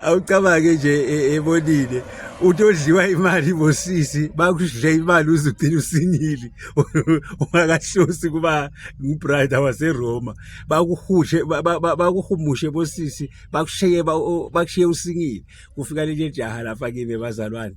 awucabange nje e, ebonile uthi odliwa imali bosisi bakudle imali uze ugcine usingile ungakahlosi kuba ngubrida waseroma bakuhushe bakuhumushe bosisi bakushiye bakushiye usingile kufika leli jaha lapha kimi bazalwane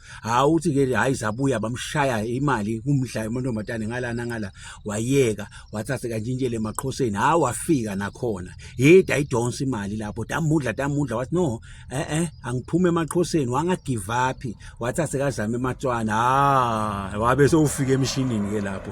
hayi uthi ke hayi zabuya bamshaya imali kumdla amantombazane ngalana ngala wayeka wathathe kanjintshele emaqhoseni hayi wafika nakhona yida idonsa imali lapho damudla damudla wathi no eh eh angiphume emaqhoseni wanga give up wathathe kazama ematswana ha wabe sewufika emshinini ke lapho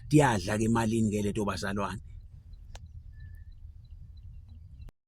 Diyadla ke malini ke leto bazalwane.